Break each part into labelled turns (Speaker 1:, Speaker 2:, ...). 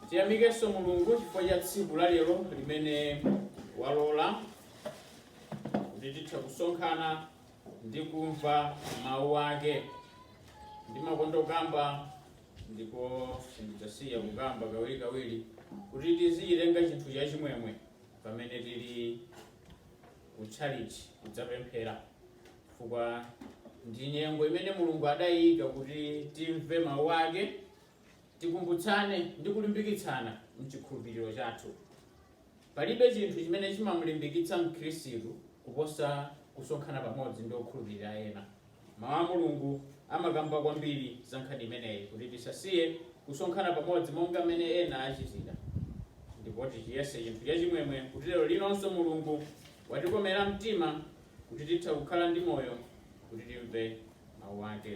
Speaker 1: Tiyamikenso Mulungu chifukwa cha tsiku la lero limene walola kuti titha kusonkhana ndi kumva mawu ake. Ndimakonda kukamba ndipo sindidzasiya kukamba kawirikawiri kuti tizichitenga chinthu cha chimwemwe pamene tili ku tchalitchi kudzapemphera chifukwa ndi nyengo imene Mulungu adayiika kuti timve mawu ake Tikumbutsane ndi kulimbikitsana m'chikhulupiriro chathu. Palibe chinthu chimene chimam'limbikitsa Mkhristu kuposa kusonkhana pamodzi ndi okhulupirira ena. Mawu a Mulungu amakamba kwambiri za nkhani imeneyi, kuti tisasiye kusonkhana pamodzi monga mmene ena achitira, ndipo tichiyese chinthu chachimwemwe, kuti lero linonso Mulungu watikomera mtima kuti titha kukhala ndi moyo kuti timve mawu ake.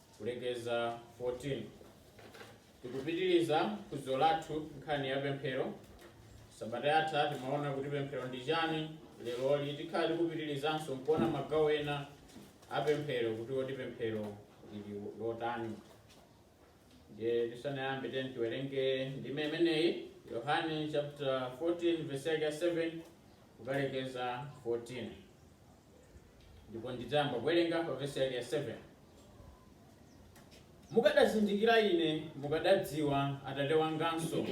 Speaker 1: kulekeza 14 tikupitiriza phunziro lathu nkhani ya pemphero sabata yatha timawona kuti pemphero ndi chani leroli tikhala tikupitirizanso nkuona magawo ena a pemphero kuti kodi pemphero lili lotani ndiye tisanayambe tiyeni tiwerenge ndime imeneyi yohane chapter 14 verse yake ya 7 kukalekeza 14 ndipo ndidzayamba kuwerenga pa verse yake ya 7 mukadazindikira ine mukadadziwa atate wanganso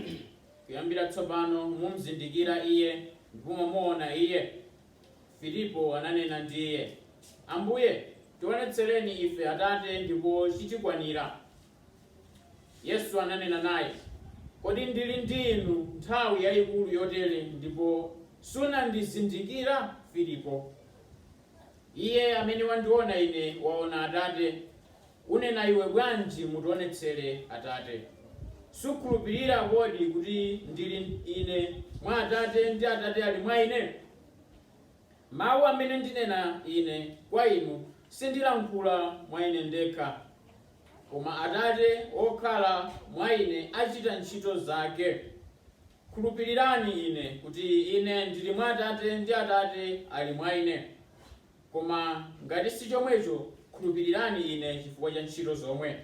Speaker 1: kuyambira tsopano mumzindikira iye ndipo mwamuona iye filipo ananena ndi iye ambuye tionetsereni ife atate ndipo chitikwanira Yesu ananena naye, Kodi ndili ndi inu nthawi yaikulu yotere, ndipo sunandizindikira, Filipo? Iye amene wandiona Ine waona Atate, unena iwe bwanji, Mutionetsere Atate? Sukhulupirira kodi kuti ndili Ine mwa Atate, ndi Atate ali mwa Ine? Mawu amene ndinena Ine kwa inu, sindilankhula mwa Ine ndekha. Koma Atate wokhala mwa Ine achita ntchito zake. Khulupirirani Ine kuti Ine ndili mwa Atate ndi Atate ali mwa Ine. Koma ngati si chomwecho, khulupirirani Ine chifukwa cha ntchito zomwe.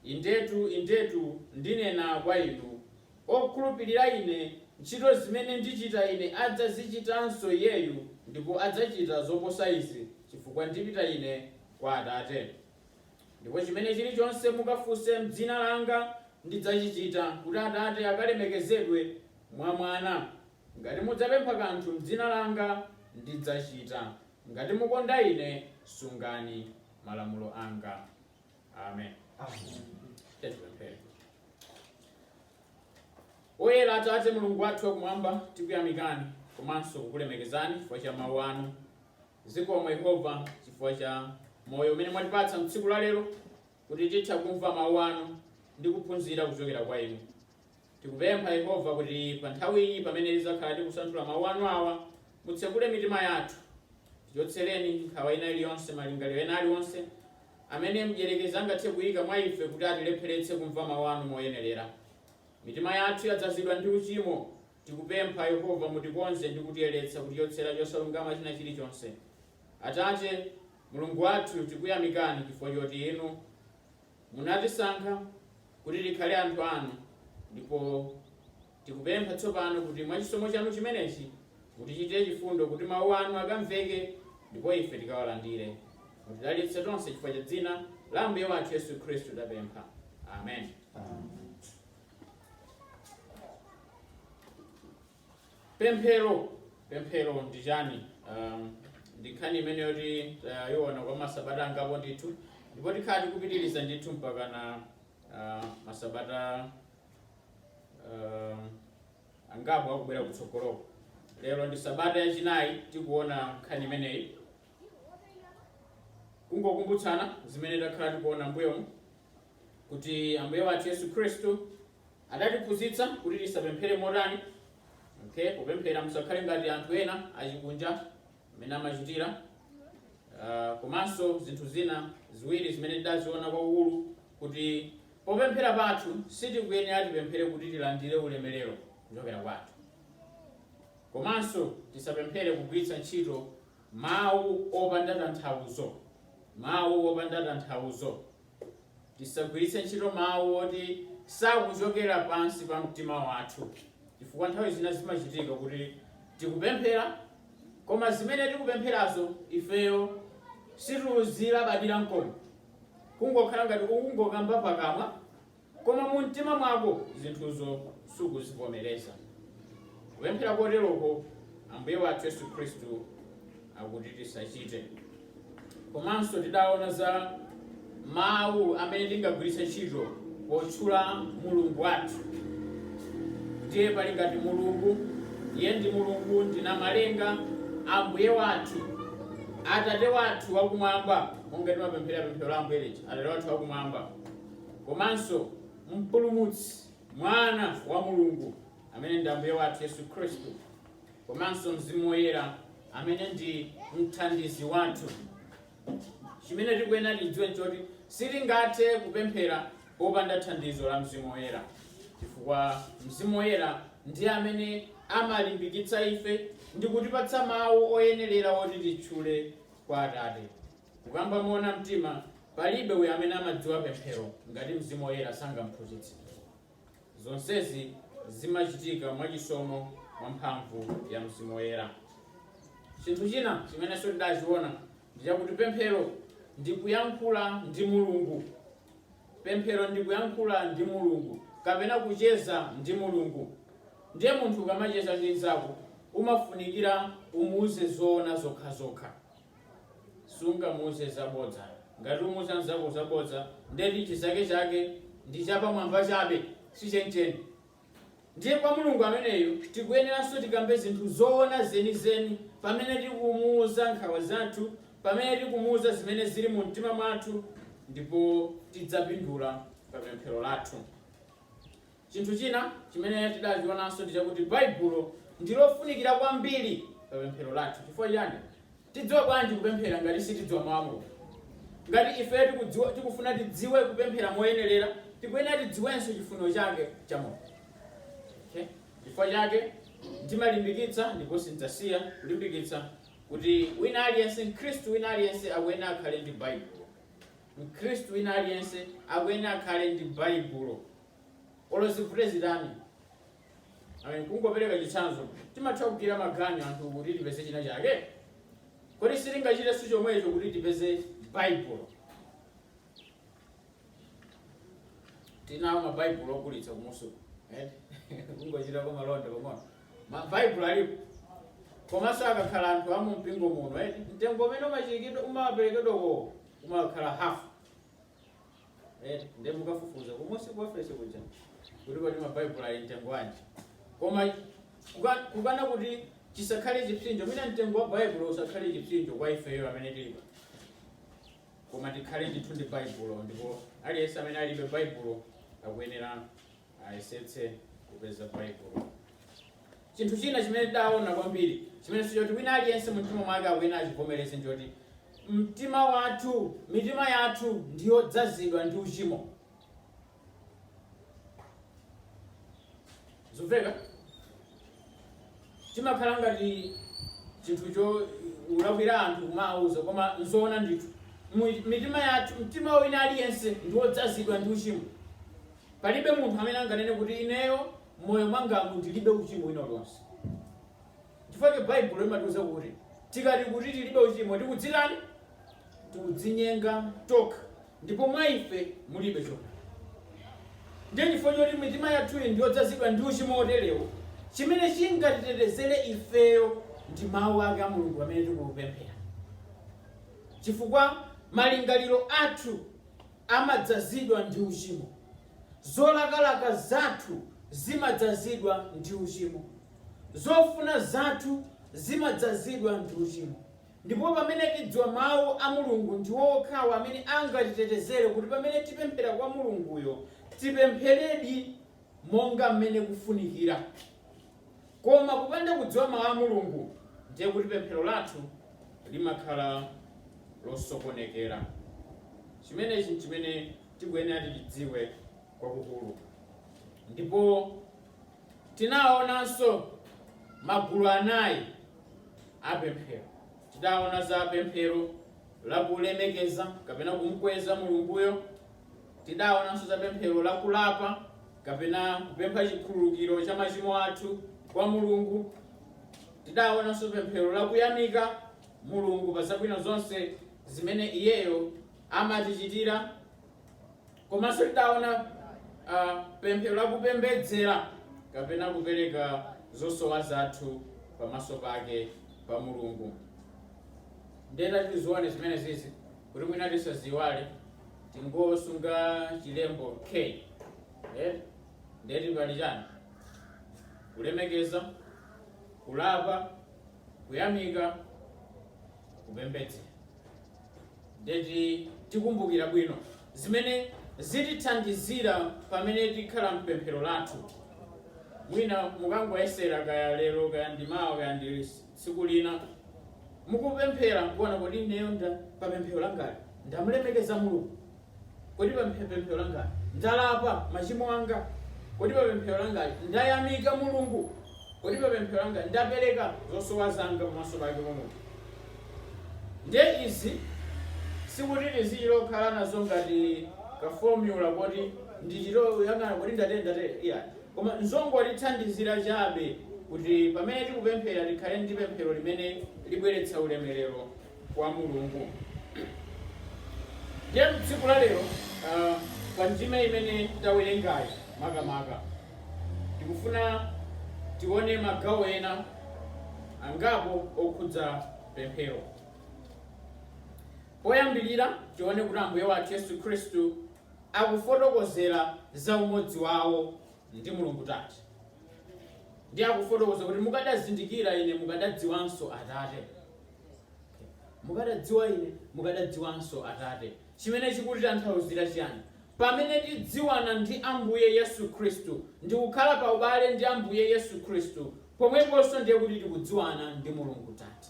Speaker 1: Indetu, indetu, ndinena kwa inu, wokhulupirira Ine, ntchito zimene ndichita Ine adzazichitanso iyeyu, ndipo adzachita zoposa izi, chifukwa ndipita Ine kwa Atate. Ndipo chimene chiri chonse mukafunse m'dzina langa ndidzachichita, kuti Atate akalemekezedwe mwa Mwana. Ngati mudzapempha kanthu m'dzina langa, ndidzachita. Ngati mukonda Ine, sungani malamulo anga. Amen. Tiye tipemphere. Oyera Atate Mulungu wathu wakumwamba, tikuyamikani komanso kukulemekezani chifukwa cha mawu anu. Zikomo Yehova chifukwa cha moyo umene mwatipatsa m'tsiku la lero kuti titha kumva mawu anu ndi kuphunzira kuchokera kwa inu. Tikupempha Yehova kuti pa nthawi iyi pamene tidzakhala tikusanthula mawu anu awa, mutsegule mitima yathu. Tichotsereni nkhawa ina iliyonse, malingaliro ena aliwonse amene mdyerekezi angathe kuyika mwa ife kuti atilepheretse kumva mawu anu moyenerera. Mitima yathu yadzazidwa ndi uchimo Tikupempha, Yehova, mutikonze ndi kutiyeretsa kutichotsera chosalungama china chilichonse. Atate, Mulungu wathu, tikuyamikani chifukwa choti Inu munatisankha kuti tikhale anthu anu, ndipo tikupempha tsopano kuti mwa chisomo chanu chimenechi mutichitire chifundo kuti mawu anu akamveke ndipo ife tikawalandire. Mutidalitse tonse chifukwa cha dzina la Ambuye wathu Yesu Khristu tapempha. Amen. Amen. pemphero pemphero ndi chani um, ndi nkhani imene yoti tayiona kwa masabata angapo ndithu ndipo tikhala tikupitiriza ndithu mpaka na uh, masabata um, angapo akubwera kutsogoloko lero ndi sabata yachinayi tikuona nkhani imeneyi kungokumbutsana zimene takhala tikuona mbuyomu kuti ambuye wathu yesu khristu adatiphunzitsa kuti tisapemphere motani okay popemphera musakhale ngati anthu ena achikunja amene amachitira Ah, komanso zinthu zina ziwiri zimene tidaziona kwakukulu kuti popemphera pathu sitikuyenera tipemphere kuti tilandire ulemerero kuchokera kwa anthu komanso tisapemphere kugwiritsa ntchito mawu opanda tanthauzo mawu opanda tanthauzo Tisagwiritse ntchito mawu oti sakuchokera pansi pa mtima wathu chifukwa nthawi zina zimachitika kuti tikupemphera koma zimene tikupempherazo ifeyo sitikuzilabadira n'komwe, kungokhala ngati ukungokamba pakamwa Koma mumtima mwako zinthuzo sukuzivomereza. Kupemphera koteroko Ambuye wathu Yesu Khristu akuti tisachite. Komanso tidaona za mawu amene tingagwiritse ntchito potchula Mulungu wathu. Ndiye pali ngati Mulungu, iye ndi Mulungu ndi namalenga, Ambuye wathu, Atate wathu wakumwamba, monga timapemphera pemphero la Ambuye lija, Atate wathu wakumwamba. komanso Mpulumutsi, Mwana wa Mulungu, amene ndi Ambuye wathu Yesu Khristu, komanso Mzimu Woyera, amene ndi mthandizi wathu. Chimene tikuyenera tidziwe n'choti sitingathe kupemphera popanda thandizo la Mzimu Woyera, chifukwa Mzimu Woyera ndiye amene amalimbikitsa ife ndi kutipatsa mawu oyenerera oti titchule kwa Atate. Kukamba moona mtima, palibe uyo amene amadziwa pemphero ngati Mzimu Woyera sangamphunzitse. Zonsezi zimachitika mwa chisomo mwa mphamvu ya Mzimu Woyera. Chinthu china chimenenso tidachiona ndi chakuti pemphero ndi kuyankhula ndi Mulungu. Pemphero ndi kuyankhula ndi Mulungu kapena kucheza ndi Mulungu. Ndiye munthu ukamacheza ndi mnzako umafunikira umuuze zoona zokhazokha. sungamuuze zabodza ngati umuuza mzako zabodza ndeti chinzake chake ndi chapamwamba chabe si chenicheni ndiye kwa mulungu ameneyo tikuyeneranso tikambe zinthu zoona zenizeni pamene tikumuuza nkhawa zathu pamene tikumuuza zimene zili mu mtima mwathu ndipo tidzapindula pa pemphero lathu Chinthu china chimene tidachionanso ndi chakuti Baibulo ndi lofunikira kwambiri pa pemphero lathu. Chifukwa chiyani? Tidziwa bwanji kupemphera ngati sitidziwa Mau a Mulungu? Ngati ifeyo tikudziwa, tikufuna tidziwe kupemphera moyenerera, tikuyenera tidziwenso chifuniro chake cha Mulungu. Okay? Chifukwa chake ndimalimbikitsa ndipo sindidzasiya kulimbikitsa kuti wina aliyense, Mkhristu wina aliyense akuyenera akhale ndi Baibulo. Mkhristu wina aliyense akuyenera akhale ndi Baibulo. olo zivute zitani Amen. kungopereka chitsanzo timatha kugwira maganyu anthu kuti tipeze china chake kodi sitingachitenso chomwecho kuti tipeze baibulo tili nawo mabaibulo ogulitsa kumusuku kungochitako malonda pang'ono mabaibulo alipo komanso akakhala anthu amu mpingo muno eti mtengo umene umachirikidwa umaperekedwa uwo umakhala hafu eti ndiye mukafufuza kumusi ku ofesi kuja kuti kodi mabaibulo ali mtengo wanji koma kuka- kukana kuti chisakhale chipsinjo mwina mtengo wa baibulo usakhale chipsinjo kwa ifeyo amene tilipo koma tikhale ndithu ndi baibulo ndipo aliyense amene alibe baibulo akuyenera ayesetse kupeza baibulo chinthu china chimene tidaona kwambiri chimene nchoti wina aliyense mumtima mwake akuyenera achivomereze ndichoti mtima wathu mitima yathu ndiyodzazidwa ndi uchimo zikumveka timakhala ngati chinthu chowalakwira anthu kuwawuza koma nzoona ndithu Mu- mitima yathu mtima wina aliyense ndiwodzazidwa ndi uchimo Palibe munthu amene anganene kuti ineyo m'moyo mwangamu ndilibe uchimo wina uliwonse. Chifukwa Baibulo limatiuza kuti tikati kuti tilibe uchimo tikudzitani? Tikudzinyenga tokha ndipo mwa ife mulibe choona. Ndiye chifukwa choti mitima yathuyi ndi yodzazidwa ndi uchimo woterewo, chimene chingatitetezere ifeyo ndi Mawu ake a Mulungu pamene tikupemphera. Chifukwa malingaliro athu amadzazidwa ndi uchimo. Zolakalaka zathu zimadzazidwa ndi uchimo. Zofuna zathu zimadzazidwa ndi uchimo. Ndipo pamene tidziwa Mawu a Mulungu, ndiwo okhawo amene angatitetezere kuti pamene tipemphera kwa Mulunguyo, tipempheredi monga mmene kufunikira. Koma kupanda kudziwa Mawu a Mulungu, ndiye kuti pemphero lathu limakhala losokonekera. Chimenechi n'chimene tikuyenera tichidziwe kwakukulu. Ndipo tinaonanso magulu anayi a pemphero. Tidaona za pemphero la kulemekeza kapena kumkweza Mulunguyo, Tidaonanso za pemphero la kulapa kapena kupempha chikhululukiro cha machimo athu kwa Mulungu. Tidaonanso pemphero la kuyamika Mulungu pa zabwino zonse zimene Iyeyo amatichitira. Komanso tidaona uh, pemphero la kupembedzera kapena kupereka zosowa zathu pamaso pake pa Mulungu. Nde tatizioneni zimenezizi kuti mwina tisaziwale tingosunga chilembo k eh? ndeti pali chani kulemekeza kulapa kuyamika kupembedzera ndeti tikumbukira bwino zimene zitithandizira pamene tikhala mpemphero lathu mwina mukangoyesera kaya lero kaya ndimawa kaya ndi liti Tsiku lina mukupemphera nkuona, kodi ineyo pa pemphero langali ndamulemekeza Mulungu? Kodi pa pemphero langali ndalapa machimo anga? Kodi pa pemphero langali ndayamika Mulungu? Kodi pa pemphero langali ndapereka zosowa zanga pamaso pake pa Mulungu? Nde izi sikuti tizichita lokhala nazo ngati ka formula koti ndichita kuyang'ana kodi ndatere ndatere, iya. Koma n'zongotithandizira chabe kuti pamene tikupemphera tikhale ndi pemphero limene libweretsa ulemerero kwa Mulungu. Ndiye tsiku la lero ah, pa ndime imene tawerengayi makamaka tikufuna tione magawo ena angapo okhudza pemphero. Poyambirira tione kuti Ambuye wathu Yesu Khristu akufotokozera za umodzi wawo ndi Mulungu Tate, ndiye akufotokoza kuti mukadazindikira ine mukadadziwanso Atate, mukadadziwa ine mukadadziwanso Atate, chimene chikutitanthauzira chiyani? Pamene tidziwana ndi Ambuye Yesu Khristu ndikukhala pa ubale ndi Ambuye Yesu Khristu, pomweponso ndiye kuti tikudziwana ndi Mulungu Tate.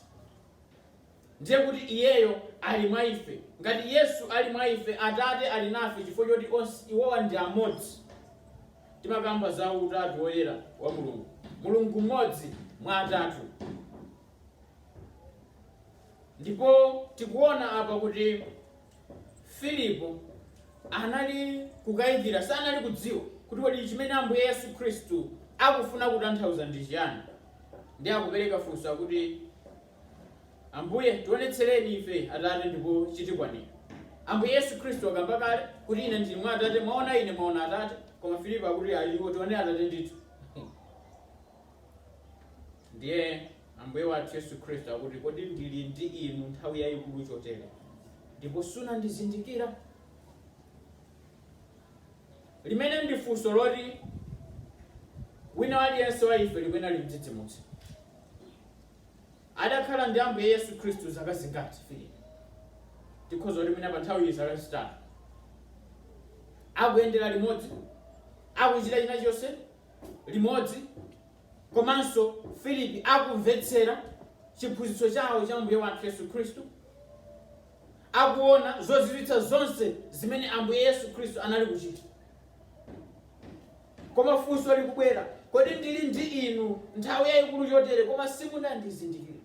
Speaker 1: ndiye kuti Iyeyo ali mwa ife. Ngati Yesu ali mwa ife, Atate ali nafe chifukwa choti onse, iwowa ndi amodzi. Timakamba za utatu woyera wa Mulungu. Mulungu m'modzi mwa atatu. Ndipo tikuona apa kuti Filipo anali kukayikira, sanali kudziwa kuti kodi chimene Ambuye Yesu Khristu akufuna kutanthauza ndi chiyani. Ndiye akupereka funso akuti. Ambuye, tionetsereni ife, Atate, ndipo chitikwanira. Ambuye Yesu Khristu akamba kale, kuti, Ine ndili mwa Atate, mwaona Ine, mwaona Atate. Koma Filipo akuti, Ayi, tione Atate ndithu. Ndiye Ambuye wathu Yesu Khristu akuti, Kodi ndili ndi inu nthawi yayikulu chotere, ndipo sunandizindikira? Limene ndi funso loti wina aliyense wa ife likuyenera limdzidzimutse. Adakhala ndi Ambuye Yesu Khristu zaka zingati Filipi? Tikhoza kuti mwina pa nthawiyi zaka zitatu. Akuyendera limodzi, akuchita china chonse limodzi, komanso Filipi akumvetsera chiphunzitso chawo cha Ambuye wathu Yesu Khristu. Akuona zozizwitsa zonse zimene Ambuye Yesu Khristu anali kuchita. Koma funso likubwera, Kodi ndili ndi inu nthawi yaikulu chotere koma simunandizindikire?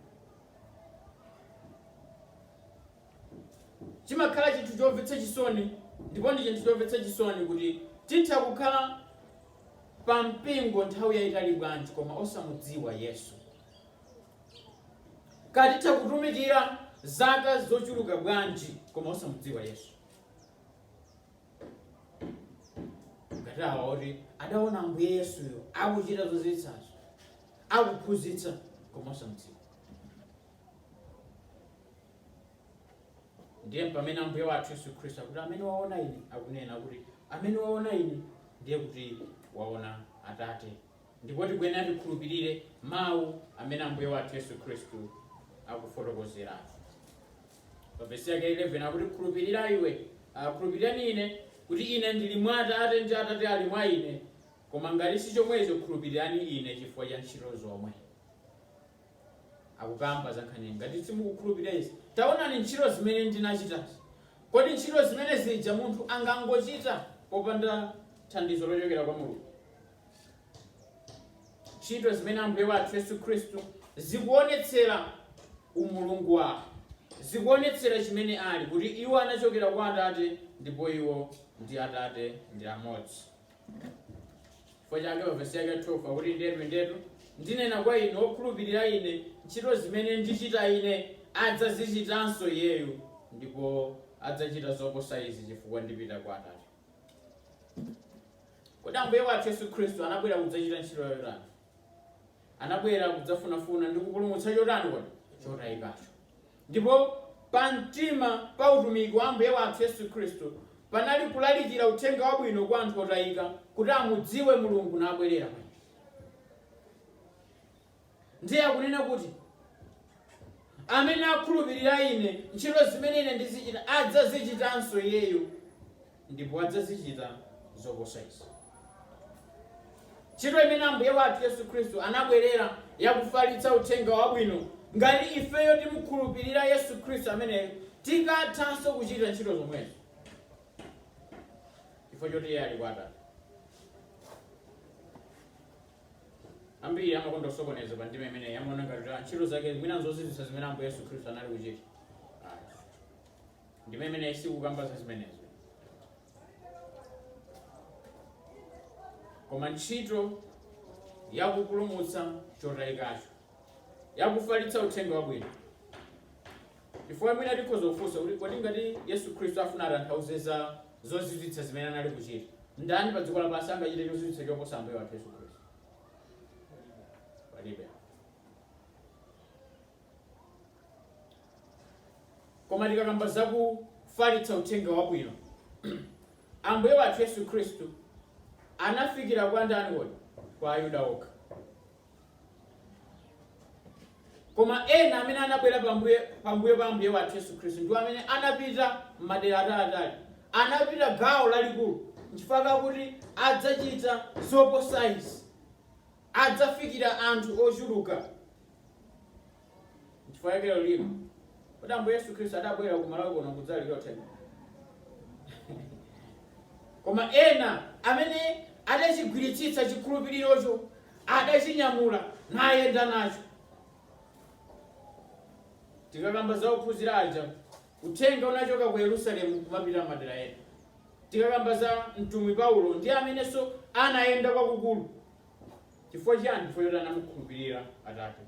Speaker 1: Chimakhala chinthu chomvetsa chisoni ndipo ndi chinthu chomvetsa chisoni kuti titha kukhala pa mpingo nthawi yaitali bwanji koma osamudziwa Yesu. Kaya titha kutumikira zaka zochuluka bwanji koma osamudziwa Yesu. ngati awa oti adaona ambuye yesuyo akuchita zozizwitsazo akuphunzitsa koma osamdziwa ndiye pamene ambuye wathu yesu khristu akuti amene waona ine akunena kuti amene waona ine ndiye kuti waona atate ndipo tikuyenera tikhulupirire mawu amene ambuye wathu yesu khristu akufotokozeratu pa vesi yake 11 akuti khulupirira iwe ah, khulupirirani ine kuti ine ndili mwa atate ndi atate ali mwa ine koma ngati si chomwecho khulupirirani ine chifukwa cha ntchito zomwe akukamba za nkhani ngati simukukhulupirira izi taonani ntchito zimene ndinachitazi kodi ntchito zimene zija munthu angangochita popanda thandizo lochokera kwa mulungu ntchito zimene ambuye wathu yesu khristu zikuonetsera umulungu wawo zikuonetsera chimene ali kuti iwo anachokera kwa atate ndipo iwo ndi atate ndi amodzi chifukwa chake pavesi yake 12 akuti ndetu ndetu ndinena kwa inu okhulupirira ine ntchito zimene ndichita ine adzazichitanso iyeyu ndipo adzachita zoposa izi chifukwa ndipita kwa atate Kodi Ambuye wathu Yesu Khristu anabwera kudzachita ntchito yotani? Anabwera kudzafunafuna ndi kupulumutsa chotani kodi? Chotayikacho. Ndipo pa mtima pa utumiki wa Ambuye wathu Yesu Khristu panali kulalikira uthenga wabwino kwa anthu otayika kuti amudziwe Mulungu nabwerera kwa Iye. Ndiye akunena kuti, Amene akhulupirira Ine, ntchito zimene Ine ndizichita adzazichitanso iyeyo, ndipo adzazichita zoposa izi. Ntchito imene Ambuye wathu Yesu Khristu anabwerera ya kufalitsa uthenga wabwino, ngati ifeyo timukhulupirira Yesu Khristu ameneyo, tikathanso kuchita ntchito zomwezo, chifukwa choti iye ali kwa Atate. ambiri amakonda kusokoneza pa ndima imeneyi amaona ngati kuti ntchito zake mwina nzozizwitsa zimene ambuye yesu khristu anali kuchita Ayi. ndima imeneyi sikukamba za zimenezo koma ntchito yakupulumutsa chotayikacho ya kufalitsa uthenga wabwino chifukwa mwina tikhoza kufunsa kuti kodi ngati yesu khristu afuna atanthauze za zozizwitsa zimene anali kuchita ndani pa dziko lapansi angachite chozizwitsa choposa ambuye wathu yesu khristu palibe koma tikakamba za kufalitsa uthenga wabwino ambuye wathu yesu khristu anafikira kwa ndani kodi kwa ayuda okha koma ena amene anabwera pambuyo pa ambuye wathu yesu khristu ndiwo amene anapita m'madera ataliatali anapita gawo lalikulu nchifukwa kakuti adzachita zoposa izi adzafikira anthu ochuluka Nchifukwa chake lero lino, kodi Ambuye Yesu Khristu adabwera ku Malawi kuno kudzalalikira uthenga? Koma ena amene adachigwiritsitsa chikhulupirirocho adachinyamula nayenda nacho. Tikakamba za ophunzira aja, uthenga unachoka ku Yerusalemu kumapita madera ena. Tikakamba za mtumwi Paulo ndi amenenso anayenda kwakukulu Chifukwa chiyani? Chifukwa choti anamukhulupirira Atate.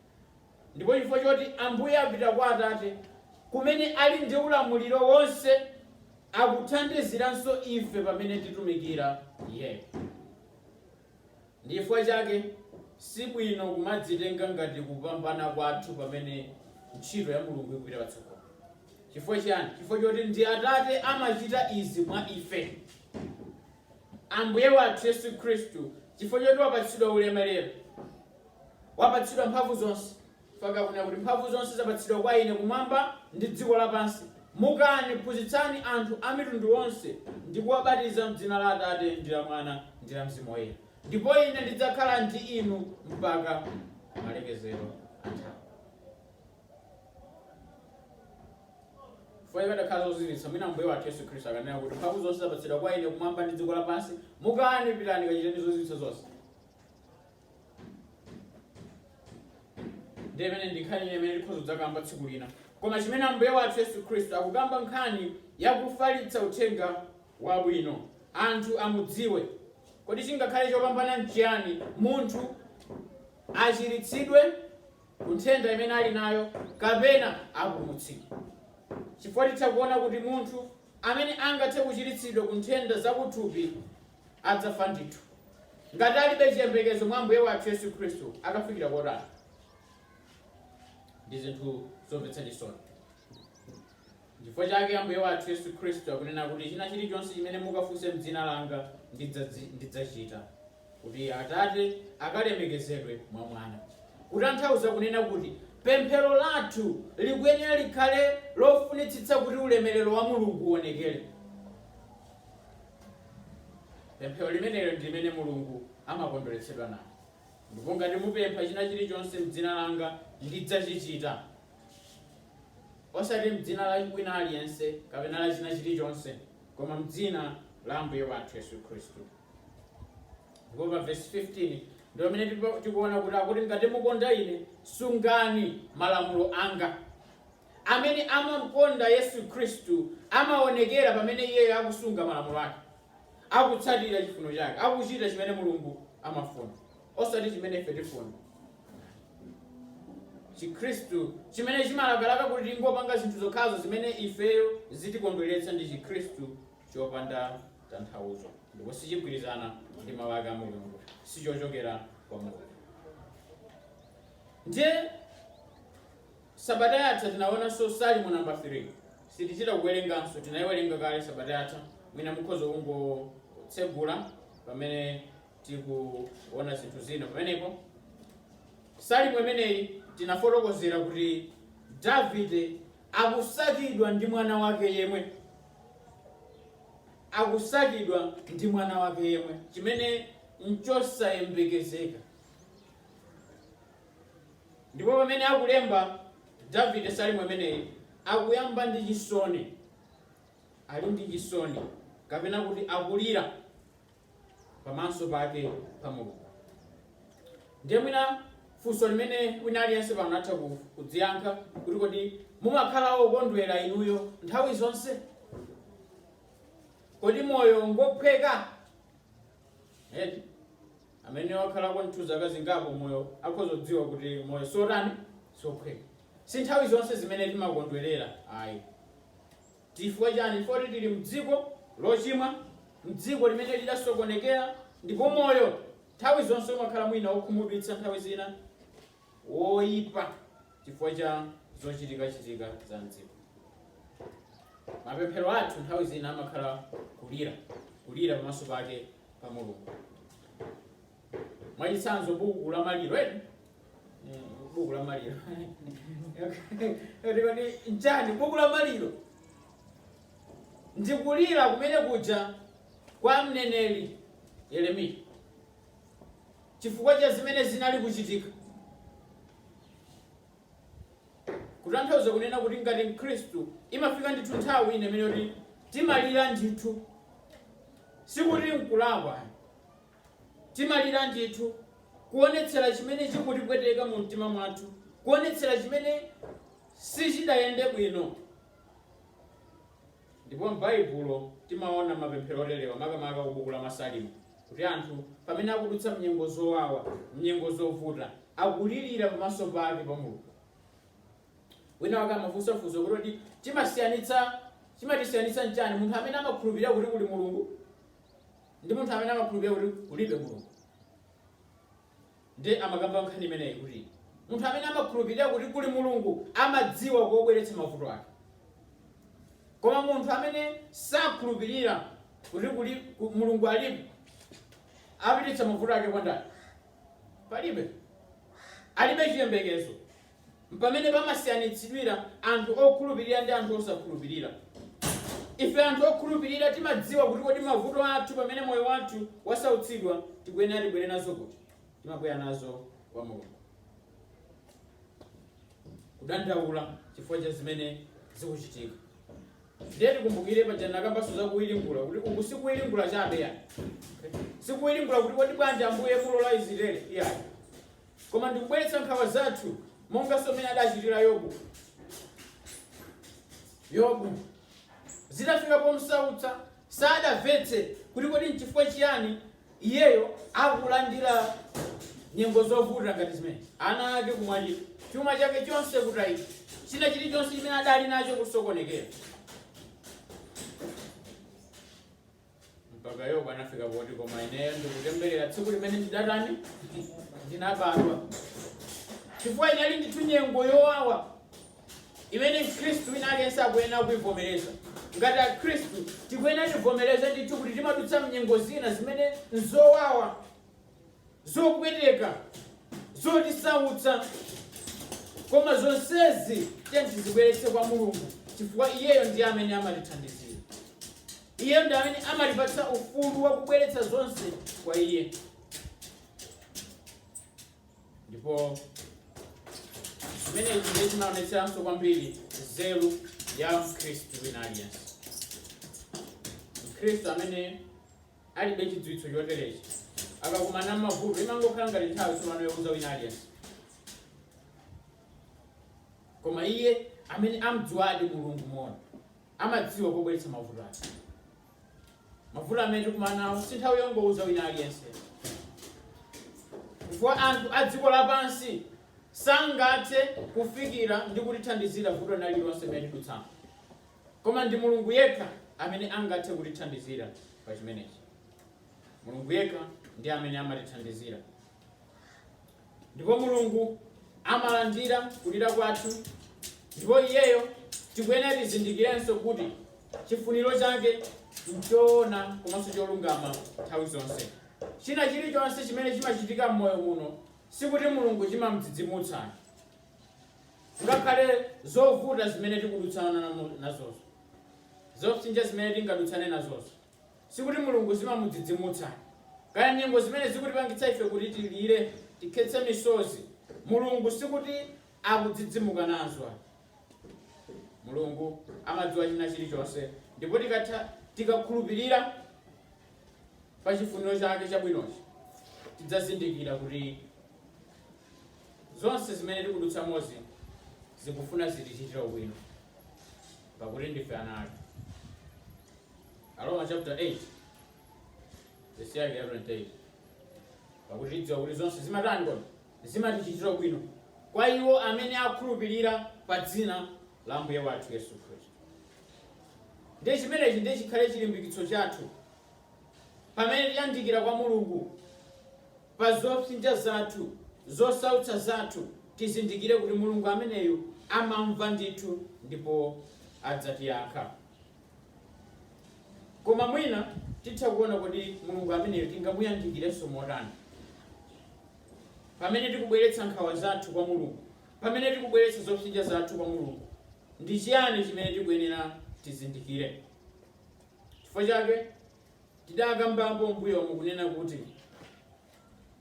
Speaker 1: Ndipo chifukwa choti Ambuye apita kwa Atate, kumene ali ndi ulamuliro wonse, akuthandiziranso ife pamene titumikira Iye. Ndi chifukwa chake si bwino kumadzitenga ngati kupambana kwathu pamene ntchito ya Mulungu ikupita patsogolo. Chifukwa chiyani? Chifukwa choti ndi Atate amachita izi mwa ife. Ambuye wathu Yesu Khristu, chifukwa choti wapatsidwa ulemerero, wapatsidwa mphamvu zonse, mpaka akunena kuti mphamvu zonse zapatsidwa kwa ine kumwamba ndi dziko lapansi, mukani, phunzitsani anthu a mitundu onse, ndi kuwabatiza m'dzina la Atate, ndi la Mwana, ndi la Mzimu Woyera, ndipo ine ndidzakhala ndi inu mpaka malekezero a nthawi. Chifukwa zikadakhala zozizwitsa, mwina Ambuye wathu Yesu Khristu akanena kuti, Mphamvu zonse zapatsidwa kwa ine kumwamba ndi dziko lapansi, mukani, pitani, kachiteni zozizwitsa zonse. Ndiye imeneyi ndi nkhani imene tikhoza kudzakamba tsiku lina. Koma chimene Ambuye wathu Yesu Khristu akukamba nkhani ya kufalitsa uthenga wabwino, anthu amudziwe. Kodi chingakhale chopambana nchiyani munthu achiritsidwe ku nthenda imene ali nayo kapena apulumutsidwe, chifukwa titha kuona kuti munthu amene angathe kuchiritsidwa ku nthenda zakuthupi adzafa ndithu, ngati alibe chiyembekezo mwa Ambuye wathu Yesu Khristu, akafikira kotani? Ndi zinthu zomvetsa chisoni. Nchifukwa chake Ambuye wathu Yesu Khristu akunena kuti china chilichonse chimene mukafunse m'dzina langa ndidzachita, kuti Atate akalemekezedwe mwa Mwana. Kutanthauza kunena kuti pemphero lathu likuyenera likhale lofunitsitsa kuti ulemerero wa Mulungu uonekere. Pemphero limenelo ndi limene Mulungu amakondweretsedwa nalo. Ndipo ngati mupempha china chilichonse m'dzina langa ndidzachichita, Osati m'dzina la wina aliyense kapena la china chirichonse, koma m'dzina la Ambuye wathu Yesu Khristu. Ndipo pa vesi 15 ndi pamene tikuona kuti akuti ngati mukonda ine sungani malamulo anga. Amene amamkonda Yesu Khristu amaonekera pamene iyeyo akusunga malamulo ake, akutsatira chifuno chake, akuchita chimene Mulungu amafuna. osati chimene ife tifuna. Chikhristu chimene chimalakalaka kuti tingopanga zinthu zokhazo zimene ifeyo zitikondweretsa ndi Chikhristu chopanda tanthauzo ndipo sichigwirizana ndi mawu ake a Mulungu, sichochokera kwa Mulungu. Ndiye sabata yatha tinaonanso Salimo namba 3 sitichita kuwerenganso, tinayiwerenga kale sabata yatha, mwina mukhoza kungotsegula pamene tikuona zinthu zina pamenepo salimo imeneyi tinafotokozera kuti davide akusakidwa ndi mwana wake yemwe akusakidwa ndi mwana wake yemwe chimene nchosayembekezeka ndipo pamene akulemba davide salimo imeneyi akuyamba ndi chisoni ali ndi chisoni kapena kuti akulira pamaso pake pa Mulungu. Ndiye mwina funso limene wina aliyense pano atha kudziyankha kuti kodi mumakhala okondwera inuyo nthawi zonse? Kodi moyo ngophweka? Eti amene wakhalako nthu zaka zingapo moyo akhoza kudziwa kuti moyo siotani sophweka. Si nthawi zonse zimene timakondwerera ayi. Chifukwa chani? Chifukwa choti tili m'dziko lochimwa, m'dziko limene lidasokonekera, ndipo moyo nthawi zonse umakhala mwina wokhumudwitsa, nthawi zina woipa chifukwa cha zochitikachitika za m'dziko. Mapemphero athu nthawi zina amakhala kulira, kulira pamaso pake pa Mulungu. mwachitsanzo buku la maliro, ee buku la maliro nchani buku la maliro ndikulira kumene kuja kwa mneneri yeremiya chifukwa cha zimene zinali kuchitika kutanthauza kunena kuti ngati mkhristu imafika ndithu nthawi ine imene yoti timalira ndithu sikuti nkulakwa Timalira ndithu, kuonetsera chimene chikutipweteka mu mtima mwathu, kuonetsera chimene sichidayende bwino. Ndipo m'Baibulo timaona mapemphero olilawa, makamaka ku buku la Masalimo, kuti anthu pamene akudutsa mnyengo zowawa, mnyengo zovuta, akulirira pamaso pake pa Mulungu. Wina wake amafunsa funso kuti kodi timasiyanitsa, chimatisiyanitsa nchani munthu amene amakhulupirira kuti kuli Mulungu ndi munthu amene amakhulupirira kuti kulibe Mulungu ndiye amakamba nkhani imeneyi kuti munthu amene amakhulupirira kuti kuli Mulungu amadziwa kobweretsa mavuto ake koma munthu amene sakhulupirira kuti kuli ku- Mulungu aliko apititsa mavuto ake kwa ndani palibe alibe chiyembekezo Mpamene pamasiyanitsidwira anthu okhulupirira ndi anthu osakhulupirira. Ife anthu okhulupirira timadziwa kuti kodi mavuto athu pamene moyo wathu wasautsidwa tikuyenera tibwere nazo kuti? Timabwera nazo kwa Mulungu. Kudandaula chifukwa cha zimene zikuchitika. Ndiye tikumbukire paja ndinakambanso za kuwiringula kuti uku si kuwiringula chabe ya. Si kuwiringula kuti kodi bwanji Ambuye mulola Israeli iyayi. koma ndikubweretsa nkhawa zathu monganso mmene adachitira yobu yobu zidafika pomsautsa sadamvetse kuti kodi nchifukwa chiyani iyeyo akulandira nyengo zovuta ngati zimene ana ake kumwalira chuma chake chonse kutayika china chilichonse chimene adali nacho kusokonekera mpaka yobu anafika poti koma ineyo ndikutemberera tsiku limene ndidatani ndinabadwa chifukwa inali ndithu nyengo yowawa imene mkhristu wina aliyense akuyenera kuivomereza ngati akhristu tikuyenera tivomereze ndithu kuti timadutsa mnyengo zina zimene nzowawa zopweteka, zotisautsa, koma zonsezi tiye tizibweretse kwa Mulungu chifukwa iyeyo ndiye amene amatithandizira. Iyeyo ndi amene amatipatsa ufulu wa kubweretsa zonse kwa iye. Ndipo zimenezi ndiye zimaonetseranso kwambiri nzeru ya Mkhristu wina aliyense. Mkhristu amene alibe chidziwitso choterechi akakumana ndi mavuto imangokhala ngati nthawi tsopano youza wina aliyense koma iye amene amdziwadi mulungu moona amadziwa pobweretsa mavuto ake mavuto amene tikumana nawo si nthawi yongouza wina aliyense chifukwa anthu a dziko lapansi sangathe kufikira ndi kutithandizira vuto lina lililonse limene tikudutsamo Koma ndi Mulungu yekha amene angathe kutithandizira pa chimenechi. Mulungu yekha ndi amene amatithandizira. Ndipo Mulungu amalandira kulira kwathu ndipo iyeyo tikuyenera tizindikirenso kuti chifuniro chake nchoona komanso cholungama nthawi zonse. China chilichonse chimene chimachitika m'moyo muno sikuti Mulungu chimamdzidzimutsa. Ngakhale zovuta zimene tikudutsana nazozo, zopsinja zimene tingadutsane nazozo, sikuti Mulungu zimamudzidzimutsa. Kaya nyengo zimene zikutipangitsa ife kuti tilire, tikhetse misozi, Mulungu sikuti akudzidzimuka nazo ayi. Mulungu amadziwa china chilichonse, ndipo tikakhulupirira pa chifuniro chake chabwinochi, tidzazindikira kuti Zonse zimene tikudutsamozi zikufuna zitichitire ubwino, pakuti ndife ana ake. Aroma chaputala 8 vesi yake ya 28 pakuti tidziwa kuti zonse zimatani kodi zimatichitira ubwino kwa iwo amene akhulupirira pa dzina la Ambuye wathu yesu khristu ndiye chimenechi ndiye chikhale chilimbikitso chathu pamene tiyandikira kwa mulungu pa zopsinja zathu, zosautsa zathu, tizindikire kuti Mulungu ameneyo amamva ndithu ndipo adzatiyankha. Koma mwina titha kuona kodi Mulungu ameneyo tingamuyandikirenso motani? Pamene tikubweretsa nkhawa zathu kwa Mulungu, pamene tikubweretsa zopsinja zathu kwa Mulungu, ndi chiyani chimene tikuyenera tizindikire? Chifukwa chake. Tidakambapo mmbuyomu kunena kuti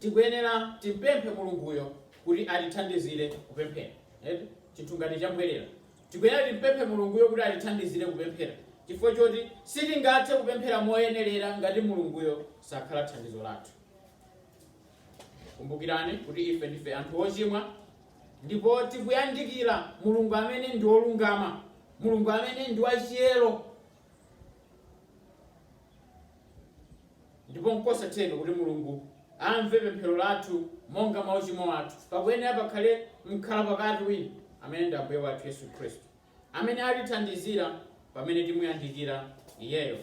Speaker 1: tikuyenera timpemphe Mulunguyo kuti atithandizire kupemphera, eti? Chinthu ngati chambwerera. Tikuyenera timpemphe Mulunguyo kuti atithandizire kupemphera chifukwa choti sitingathe kupemphera moyenerera ngati Mulunguyo sakhala thandizo lathu. Kumbukirani kuti ife ndife anthu ochimwa ndipo tikuyandikira Mulungu amene ndi wolungama, Mulungu amene ndi wachiyero. ndipo nkosatheka kuti mulungu amve pemphero lathu monga mwa uchimo athu pakuyenera pakhale mkhala pakati wina amene ndi ambuye wathu yesu khristu amene atithandizira pamene timuyandikira iyeyo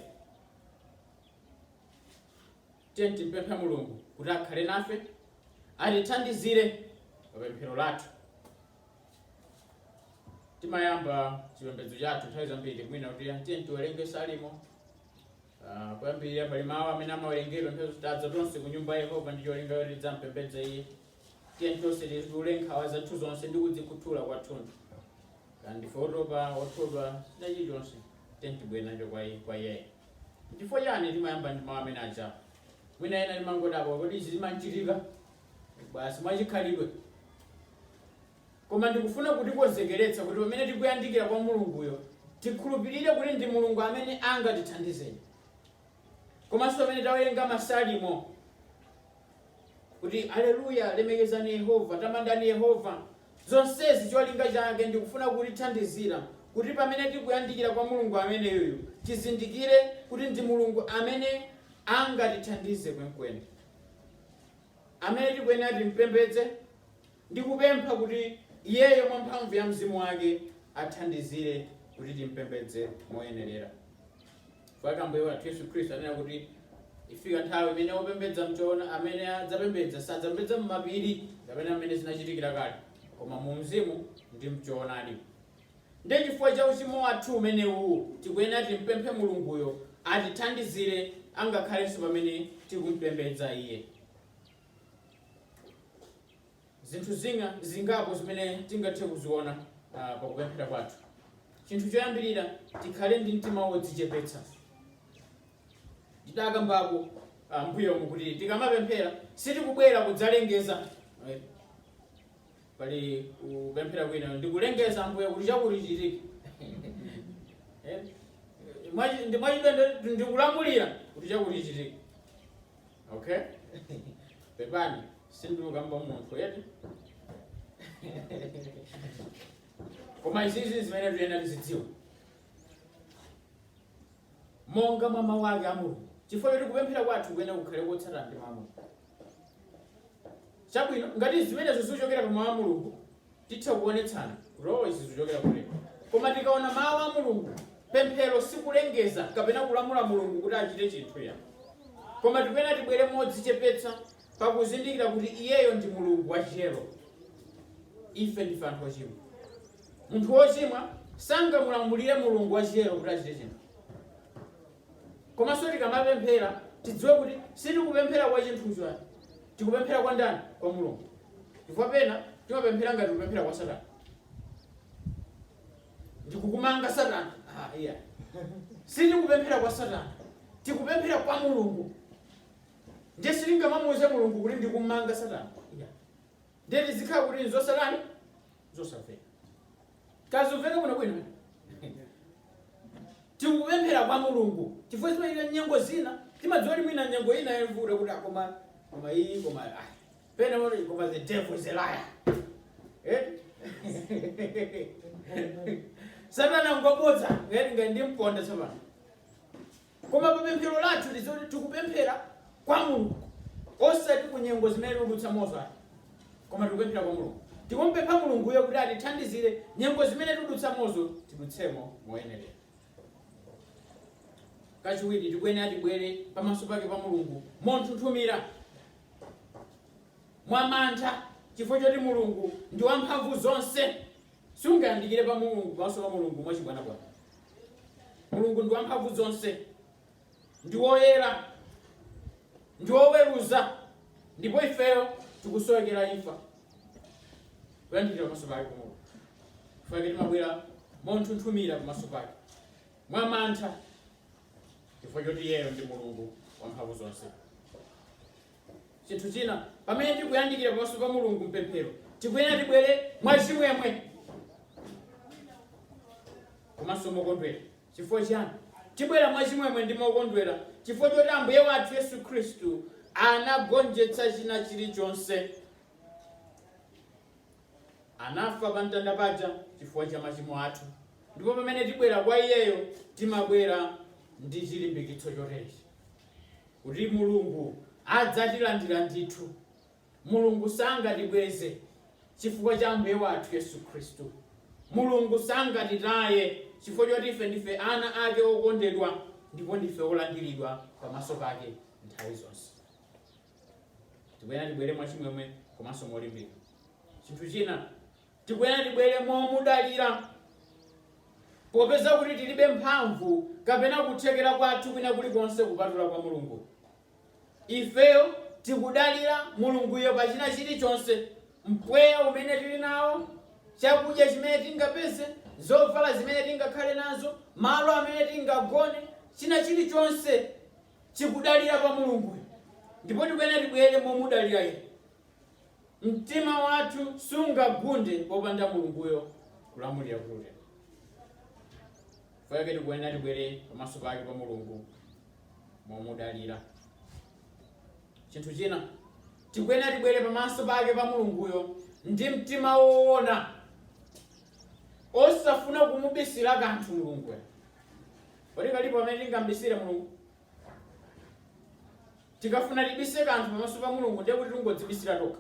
Speaker 1: tiyeni timpemphe mulungu kuti akhale nafe atithandizire pa pemphero lathu timayamba chipembedzo chathu nthawi zambiri mwina kuti tiyeni tiwerenge salimo ah, kuyambirira pali mawu amene amawerengedwa nthawi zoti tadza tonse ku nyumba ya yehova ndi cholinga choti tidzampembedze iye tiyeni tonse titule nkhawa zathu zonse ndi kudzikhuthula kwathunthu kaya ndife otopa othodwa china chilichonse tiyeni tibwere nacho kwa iye- kwa iyeyo chifukwa chani timayamba ndi mawu amene aja mwina ena timangodabwa kuti izi zimachitika Basi mwachikhalidwe. Koma ndikufuna kutikonzekeretsa kuti pamene tikuyandikira kwa Mulunguyo, tikhulupirire kuti ndi Mulungu amene angatithandizeni. Komanso pamene tawerenga Masalimo kuti aleluya, lemekezani Yehova, tamandani Yehova, zonsezi cholinga chake ndikufuna kutithandizira kuti pamene tikuyandikira kwa Mulungu ameneyoyo tizindikire kuti ndi Mulungu amene angatithandize kwenikweni. amene tikuyenera timpembedze ndi kupempha kuti Iyeyo mwa mphamvu ya Mzimu wake athandizire kuti timpembedze moyenerera. Pakuti Ambuye wathu Yesu Khristu ananena kuti ifika nthawi imene opembedza mchoona amene adzapembedza sadzapembedza m'mapiri kapena mmene zinachitikira kale koma mu mzimu ndi mchoonadi. Nde chifukwa cha uchimo wathu umenewu tikuyenera timpemphe Mulunguyo atithandizire angakhalenso pamene tikumpembedza Iye. Zinthu zingapo zimene tingathe kuziona pakupemphera kwathu. Chinthu choyambirira, tikhale ndi mtima wodzichepetsa. Tidakambako m'mbuyomu kuti tikamapemphera sitikubwera kudzalengeza. pali kupemphera kwina ndikulengeza ambuye kuti chakuti chitike Eh, mwachi- ndi- ndikulamulira kuti chakuti chitike okay pepani sindikukamba munthu eti koma izizi zimene tiyenera tizidziwa monga mwa mawu ake a mulungu chifukwa choti kupemphera kwathu kuyenera kukhale kotsatana ndi mawu a mulungu Chabwino, ngati zimenezo zikuchokera pa Mawu a Mulungu, titha kuonetsana kuti oh, izi zikuchokera kumeneko. Koma tikaona Mawu a Mulungu, pemphero sikulengeza kapena kulamula Mulungu kuti achite chinthu iya. Koma tikuyenera tibwere modzichepetsa pakuzindikira kuti iyeyo ndi Mulungu wachiyero. Ife ndife anthu ochimwa. Munthu wochimwa sangamulamulire Mulungu wachiyero kuti achite chinthu. Komanso tikamapemphera tidziwe kuti sitikupemphera kwa chinthucho ayi. Tikupemphera kwa ndani? Kwa Mulungu. Chifukwa pena timapemphera ngati tikupemphera kwa Satana. Ndikukumanga Satana. Ah, iya. Sitikupemphera kwa Satana. Tikupemphera kwa Mulungu. Ndiye sitingamamuuze Mulungu kuti ndikumanga Satana. Iya. Ndiye tizikhala kuti nzosatani? Zosafera. zosamveka bwino bwino tikupemphera kwa mulungu chifukwa mwina nyengo zina timadziwa kuti mwina nyengo ina yavuta kuti akoma koma iyi koma ah, pena kuti koma the devil is a liar eh? satana ngobodza ngati ngati ndi mponda Satana Koma pa pemphero lathu tiziti tikupemphera kwa Mulungu osati ku nyengo zimene tikudutsamozo ayi koma tikupemphera kwa Mulungu tikumupempha Mulunguyo kuti atithandizire nyengo zimene tikudutsamozo tidutsemo moyenera. Kachiwiri tikuyenera tibwere pamaso pake pa Mulungu monthunthumira mwamantha chifukwa choti Mulungu ndi wamphamvu zonse. Sungayandikire pa Mulungu, pamaso pa Mulungu, mwachibwanabwana. Mulungu ndi wamphamvuzonse, ndi woyera, ndi woweruza, ndipo ifeyo tikusowekera imfa kuyandikira pamaso pake pa Mulungu. Chifukwa chake timabwera monthunthumira pamaso pake mwa mantha, chifukwa choti iyeyo ndi Mulungu wamphamvu zonse. Chinthu china, pamene tikuyandikira pamaso pa Mulungu mpemphero, tikuyenera tibwere mwa chimwemwe komanso mokondwera. Chifukwa chiyani? Tibwera mwa chimwemwe ndi mokondwera chifukwa choti Ambuye wathu Yesu Khristu anagonjetsa china chilichonse. Anafa pamtanda paja chifukwa cha machimo athu, ndipo pamene tibwera kwa Iyeyo, timabwera ndi chilimbikitso choterechi, kuti Mulungu adzatilandira ndithu. Mulungu sangatibweze chifukwa cha Ambuye wathu Yesu Khristu. Mulungu sangatitaye chifukwa choti ife ndife ana ake okondedwa ndipo ndife olandiridwa pamaso pake nthawi zonse. tikuyenera tibwere mwachimwemwe komanso molimbika mtima chinthu china tikuyenera tibwere momudalira popeza kuti tilibe mphamvu kapena kuthekera kwathu kwina kulikonse kupatula kwa mulungu ifeyo tikudalira mulunguyo pa china chilichonse mpweya umene tili nawo chakudya chimene tingapeze zovala zimene tingakhale nazo malo amene tingagone china chilichonse chikudalira pa Mulunguyo, ndipo tikuyenera tibwere momudalira Iye. Mtima wathu sungagunde popanda Mulunguyo kulamulira kuti utero. Chifukwa chake tikuyenera tibwere pamaso pake pa Mulungu momudalira. Chinthu china tikuyenera tibwere pamaso pake pa Mulunguyo ndi mtima woona osafuna kumubisira kanthu Mulunguyo. Kodi kalipo kamene tingambisire Mulungu? Tikafuna tibise kanthu pamaso pa Mulungu ndiye kuti tingodzibisira tokha.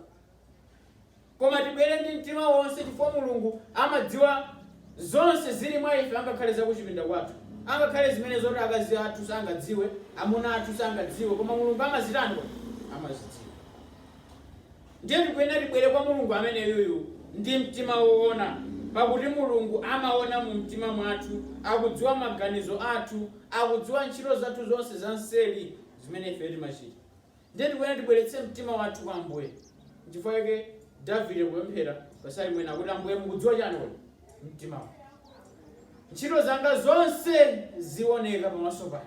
Speaker 1: Koma tibwere ndi mtima wonse chifukwa Mulungu amadziwa zonse zili mwa ife angakhale zakuchipinda kwathu. Angakhale zimene zoti akazi athu sangadziwe, amuna athu sangadziwe, koma Mulungu amazitani? Amazidziwa. Ndiye tikuyenera tibwere kwa Mulungu ameneyuyu ndi mtima woona, pakuti Mulungu amaona mu mtima mwathu, akudziwa maganizo athu, akudziwa ntchito zathu zonse za mseri zimene ifeyo timachita. Ndiye tikuyenera tibweretse mtima wathu kwa Ambuye. Nchifukwa chake Davide kupemphera pa Salimo ina akuti, Ambuye mukudziwa chani kodi? Mtima wanga. Ntchito zanga zonse zioneka pamaso panu.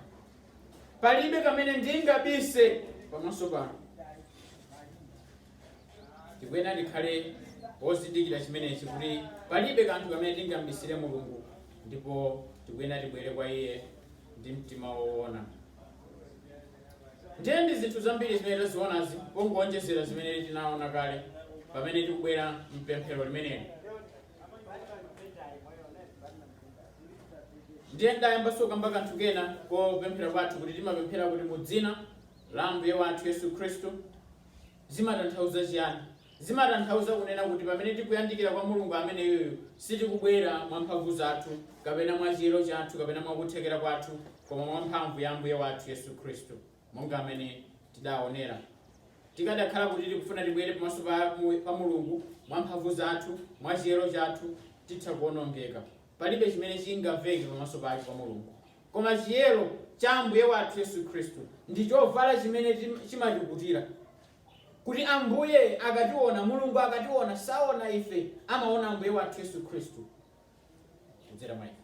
Speaker 1: palibe kamene ndingabise pamaso panu tikuyenera tikhale ozindikira chimenechi kuti palibe kanthu kamene tingambisire mulungu ndipo tikuyenera tibwere kwa iye ndi mtima woona ndiye ndi zinthu zambiri zimene tazionazi pongoonjezera zimene tinaona kale pamene tikubwera mpemphero limeneli ndiye ndayamba ndakamba kanthu kena kopemphera kwathu kuti timapemphera kuti mu dzina la ambuye wathu yesu khristu zimatanthauza chiyani zimatanthauza kunena kuti pamene tikuyandikira kwa mulungu ameneyoyo sitikubwera mwa mphamvu zathu kapena mwa chiyero chathu kapena mwa kuthekera kwathu koma mwa mphamvu ya ambuye wathu yesu khristu Monga mmene tidaonera, tikadakhala kuti tikufuna tibwere pamaso pa pa Mulungu mwa mphamvu zathu, mwa chiyero chathu, titha kuonongeka. Palibe chimene chingamveke pamaso pake pa Mulungu. Koma chiyero cha Ambuye wathu Yesu Khristu ndi chovala chimene tim- chimatikutira. Kuti Ambuye akationa, Mulungu akationa, saona ife, amaona Ambuye wathu Yesu Khristu kudzera mwa ife.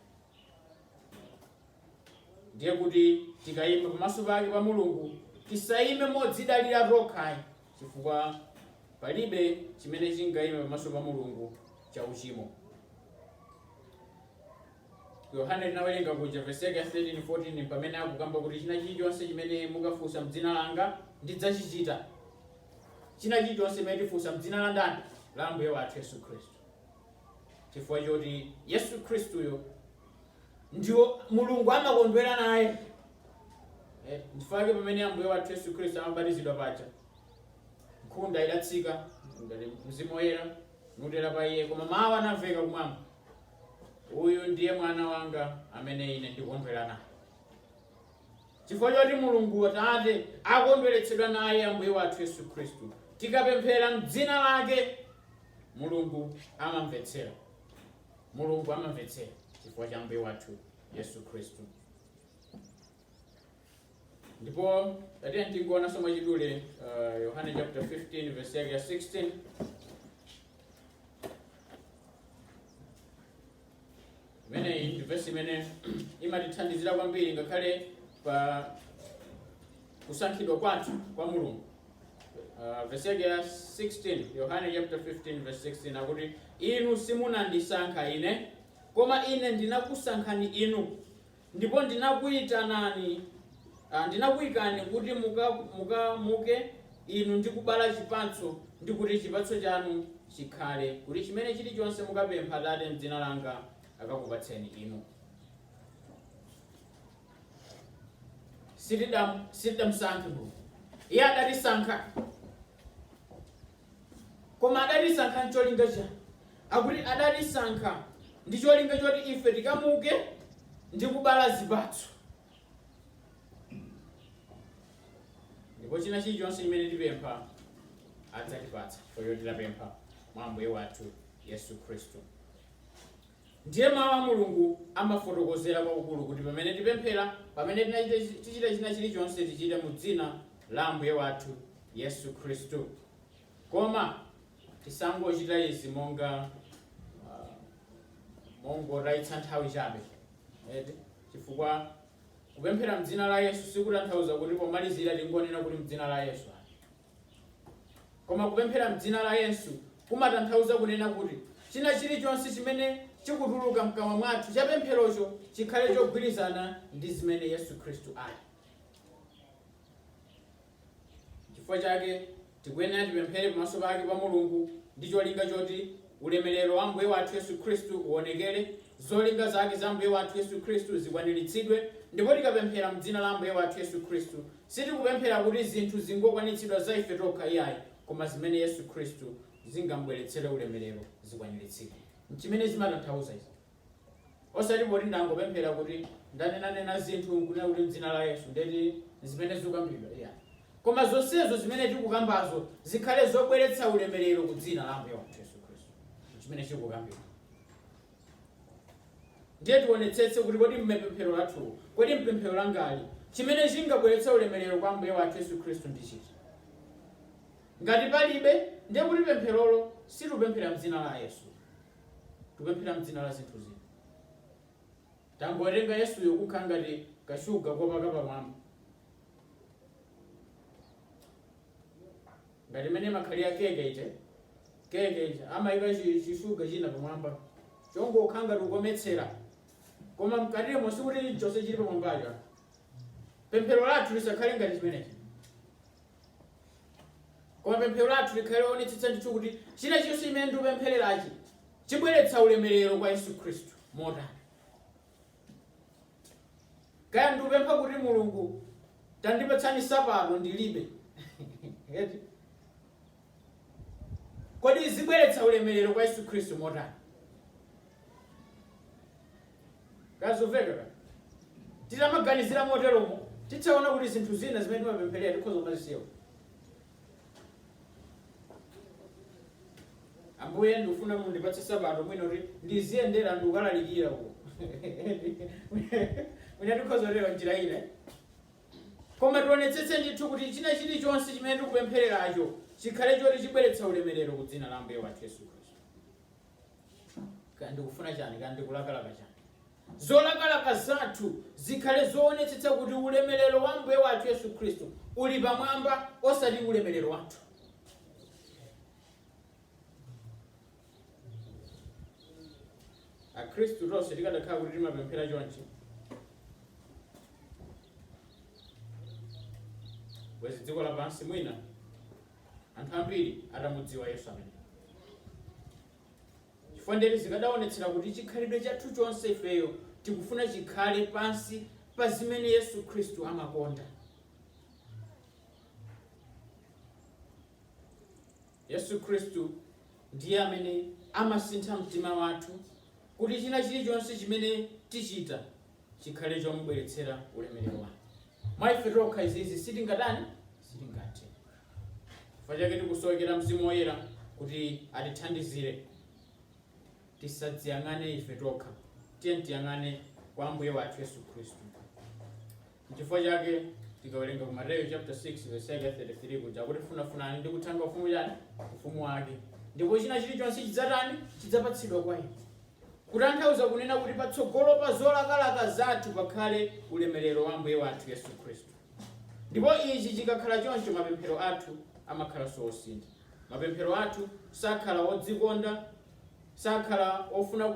Speaker 1: ndiye kuti tikayima pamaso pake pa mulungu tisayime modzidalira tokha ayi chifukwa palibe chimene chingayime pamaso pa mulungu cha uchimo yohane tinawerenga kuja vesi yake ya 13 14 pamene akukamba kuti china chilichonse chimene mukafunsa mdzina langa ndidzachichita china chilichonse chimene tifunsa mdzina la ndani la ambuye wathu yesu khristu chifukwa choti yesu khristuyo ndiwo mulungu amakondwera naye n'chifukwa chake pamene ambuye wathu yesu khristu amabatizidwa paja nkhunda idatsika mzimu woyera nutera pa iye koma mawu anamveka kumwamba uyu ndiye mwana wanga amene ine ndikondwera naye chifukwa choti mulungu atate akondweretsedwa naye ambuye wathu yesu khristu tikapemphera mdzina lake Mulungu amamvetsera. Mulungu amamvetsera chifukwa cha Ambuye wathu Yesu Khristu. Ndipo tatiye tingoona so mwachidule uh, Yohane chapter 15 verse yake ya 16 imeneyi ndi vesi imene imatithandizira kwambiri ngakhale pa kusankhidwa kwathu kwa mulungu Uh, vesi yake ya 16 yohane chapter 15 verse 16 akuti inu simunandisankha ine koma ine ndinakusankhani inu Ndipo ndinakuitanani, ndinakuikani kuti muka, muke inu ndi kubala chipatso, ndi kuti chipatso chanu chikhale, kuti chimene chilichonse mukapempha Atate m'dzina langa akakupatseni inu. Sitidam- Sitidamsankhe Mulungu, iye adatisankha. Koma adatisankha n'cholinga chani? Akuti adatisankha ndi cholinga choti ife tikamuke ndi kubala zipatso. Ndipo china chilichonse chimene tipempha adzatipatsa chifukwa choti tidapempha mwa Ambuye wathu Yesu Khristu. Ndiye, Mawu a Mulungu amafotokozera kwakukulu kuti pamene tipemphera, pamene tinachita, tichita china chilichonse, tichite mu Dzina la Ambuye wathu Yesu Khristu. Koma tisangochita izi monga, uh, mongotayitsa nthawi chabe, eti, chifukwa kupemphera m'dzina la Yesu sikutanthauza kuti pomalizira tingonena kuti m'dzina la Yesu. Koma kupemphera m'dzina la Yesu kumatanthauza kunena kuti china chilichonse chimene chikutuluka mkamwa mwathu cha pempherocho chikhale chogwirizana ndi zimene Yesu Khristu ali. Chifukwa chake tikuyenera tipemphere pamaso pake pa Mulungu ndi cholinga choti ulemerero wa Ambuye wathu Yesu Khristu uonekere, zolinga zake za Ambuye wathu Yesu Khristu zikwaniritsidwe, ndipo tikapemphera m'dzina la Ambuye wathu Yesu Khristu Sitikupemphera kuti zinthu zingokwanitsidwa za ife tokha iyayi, koma zimene Yesu Khristu zingam'bweretsere ulemerero zikwaniritsike. N'chimene zimatanthauza izi. Osati poti ndangopemphera kuti ndanenanena zinthu n'kunena kuti m'dzina la Yesu, ndeti n'zimene zikukambidwa iyayi. Koma zonsezo zimene tikukambazo zikhale zobweretsa ulemerero ku dzina la Ambuye wathu Yesu Khristu. N'chimene chikukambidwa. Ndiye tionetsetse kuti kodi m'pemphero lathu, kodi mpemphero langali,, chimene chingabweretse ulemerero kwa Ambuye wathu Yesu Khristu ndi chiti? Ngati palibe, ndiye kuti pempherolo sitikupemphera mdzina la Yesu. Tikupemphera mdzina la zinthu zina. Tangowerenga Yesuyo kukhala ngati kashuga kopaka pamwamba. ngati mmene imakhalira keke ija, keke ija amaika chi chi sugar china pamwamba chongokhala ngati kukometsera, koma mkatimo sikuti chonse chili pamwambacho. ah. Pemphero lathu lisakhale ngati chimenechi, koma pemphero lathu likhale loonetsetsa ndithu kuti china chonse chimene ndikupemphererachi chibweretsa ulemerero kwa Yesu Khristu. Motani? kaya ndikupempha kuti mulungu tandipatsani sapato ndilibe Eti? kodi zibweretsa ulemerero kwa yesu khristu motani kazoveka titamaganizira moteromo tidzaona kuti zinthu zina zimene timapempherera tikhoza kumazisiya ambuye ndikufuna mundipatse sapato mwina kuti ndiziyendera ndikukalalikira uko mwina tikhoza kutero njira ina koma tionetsetse ndithu kuti china chilichonse chimene tikupemphereracho chikhale choti chibweretsa ulemerero ku dzina la ambuye wathu yesu khristu kaya ndikufuna chani kaya ndikulakalaka chani zolakalaka zathu zikhale zoonetsetsa kuti ulemerero wa ambuye wathu yesu khristu uli pamwamba osati ulemerero wathu akhristu tonse tikadakhala kuti timapemphera chonchi bwezi dziko lapansi mwina anthu ambiri atamudziwa Yesu ameneyo. Chifukwa ndiye kuti zikadaonetsera kuti chikhalidwe chathu chonse ifeyo tikufuna chikhale pansi pa zimene Yesu Khristu amakonda. Yesu Khristu ndiye amene amasintha mtima wathu kuti china chilichonse chimene tichita chikhale chomubweretsera ulemerero wake. Mwa ife tokha izizi sitingatani? Sitingathe. Chifukwa chake tikusowekera Mzimu Woyera kuti atithandizire. Tisadziyang'ane ife tokha, tiye tiyang'ane kwa Ambuye wathu Yesu Khristu. Chifukwa chake tikawerenga ku Mateyu chapter 6 verse 33 akuti funafunani ndi kuthanga ufumu chani ufumu wake ndipo china chilichonse chidzatani chidzapatsidwa kwa inu kutanthauza kunena kuti patsogolo pa zolakalaka zathu pakhale ulemerero wa Ambuye wathu Yesu Khristu. Ndipo ichi chikakhala choncho, mapemphero athu amakhalanso osintha. Mapemphero athu sakhala odzikonda, sakhala ofuna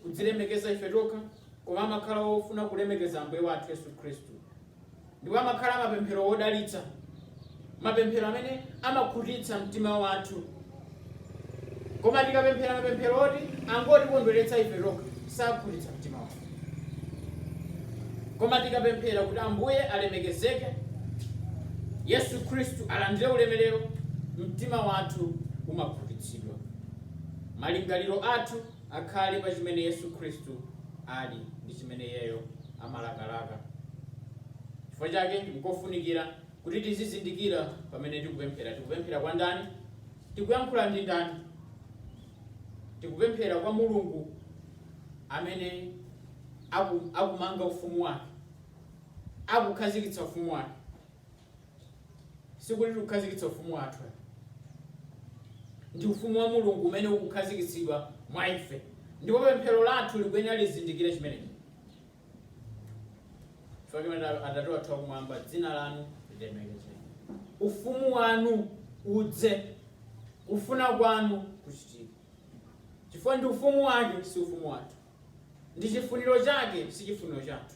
Speaker 1: kudzilemekeza ife tokha, koma amakhala ofuna kulemekeza Ambuye wathu Yesu Khristu. Ndipo amakhala mapemphero odalitsa, mapemphero amene amakhutitsa mtima wathu. Koma tikapemphera mapemphero oti angotikondweretsa ife tokha, sakhutitsa mtima wathu. Koma tikapemphera kuti Ambuye alemekezeke, Yesu Khristu alandire ulemerero, mtima wathu umakhutitsidwa, malingaliro athu akhale pa chimene Yesu Khristu ali ndi chimene Iyeyo amalakalaka. Chifukwa chake nkofunikira kuti tizizindikira pamene tikupemphera. Tikupemphera kwa ndani? Tikuyankhula ndi ndani? Tikupemphera kwa Mulungu amene akumanga ufumu wake, akukhazikitsa ufumu wake. sikuti tikukhazikitsa ufumu wathu. ndi ufumu wa mulungu umene ukukhazikitsidwa mwa ife ndipo pemphero lathu likuyenera lizindikire chimenechi chifukwa chimene atate wathu akumwamba dzina lanu lilemekezeke ufumu wanu udze kufuna kwanu kuchitike chifukwa ndi ufumu wake si ufumu wathu Ndi chifuniro chake, si chifuniro chathu.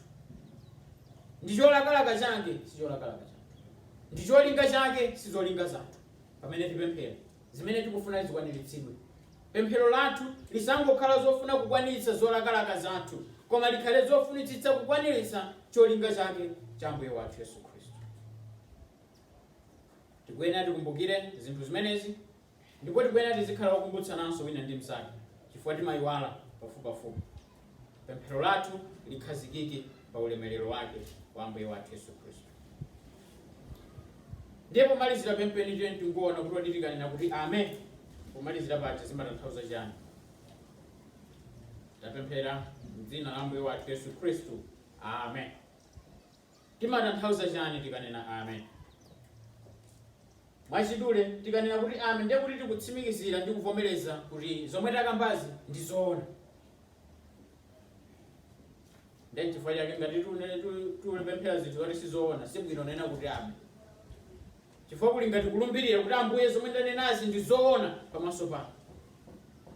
Speaker 1: Ndi cholakalaka chake, si cholakalaka chathu. Ndi cholinga chake, si zolinga zathu. Pamene tipemphera, zimene tikufuna zikwaniritsidwe. Pemphero lathu lisangokhala zofuna kukwaniritsa zolakalaka zathu, koma likhale zofunitsitsa kukwaniritsa cholinga chake cha Ambuye wathu Yesu Khristu. Tikuyenera tikumbukire zinthu zimenezi Ndipo tikuyenera tizikhala okumbutsananso wina ndi mzake chifukwa timayiwala pafupipafupi. Pemphero lathu likhazikike pa ulemelero wake wa Ambuye wathu Yesu Khristu. Ndiye pomalizira penipeni tiyeni tingoona kuti kodi tikanena kuti amen pomalizira paja zimatanthauza chani? Tapemphera m'dzina la Ambuye wathu Yesu Khristu. Amen. Timatanthauza chani tikanena Amen? Mwachidule, tikanena kuti Amen ndiye kuti tikutsimikizira ndi kuvomereza kuti zomwe takambazi ndi zoona. Ndiye chifukwa chake ngati tikunena ti- tikupemphera zinthu zoti si zoona, si bwino nena kuti Amen. Chifukwa kuli ngati kulumbirira kuti Ambuye zomwe ndanenazi ndi zoona pamaso panu.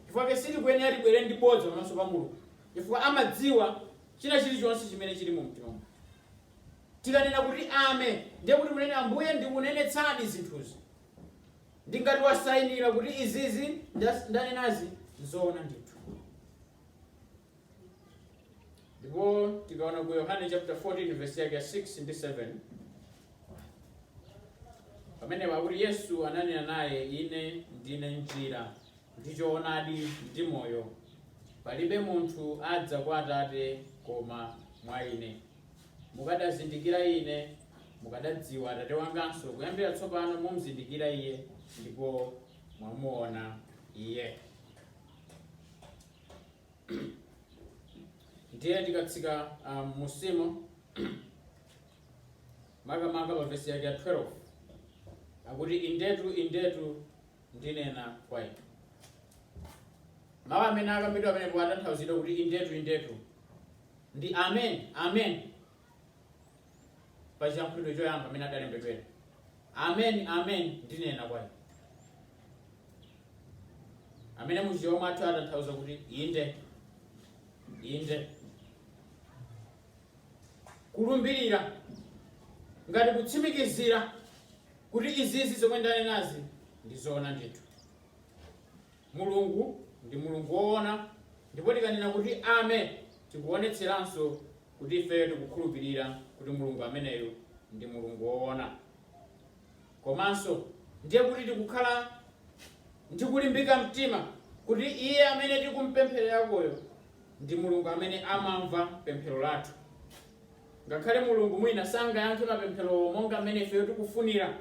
Speaker 1: Chifukwa chake sitikuyenera tibwere ndi bodza pamaso pa Mulungu. Chifukwa amadziwa china chilichonse chimene chili mu mtima mwathu. Tikanena kuti Amen, ndiye kuti tunena Ambuye ndikunenetsadi zinthuzi. Ndi ngati wasainira kuti izizi ndas- ndanenazi nzoona ndithu. Ndipo tikaona ku Yohane chapter 14 verse yake ya 6 ndi 7. Pamene pakuti Yesu ananena naye, ine ndine njira ndi choonadi ndi moyo, palibe munthu adza kwa Atate koma mwa Ine. Mukadazindikira Ine, mukadadziwa Atate wanganso, kuyambira tsopano mumzindikira Iye, ndipo mwamuona Iye. ndiye tikatsika um, mmusimo makamaka pa vesi yake ya 12 akuti indetu indetu ndinena kwa inu mawu amene akambidwa pamenepo atanthauzidwa kuti indetu indetu ndi amen amen pa chiyankhulo choyamba amene adalembedwera amen amen ndinena kwa inu amene muchichewa mwathu atanthauza kuti inde inde kulumbirira ngati kutsimikizira kuti izizi zomwe ndanenazi ndi zoona ndithu mulungu ndi mulungu woona ndipo tikanena kuti amen tikuonetseranso kuti ifeyo tikukhulupirira kuti mulungu ameneyo ndi mulungu woona Komanso, ndiye kuti tikukhala ndi kulimbika mtima kuti Iye amene tikumpemphererakoyo ndi Mulungu amene amamva pemphero lathu. Ngakhale Mulungu mwina sangayankhe mapempherowo monga mmene ifeyo tikufunira,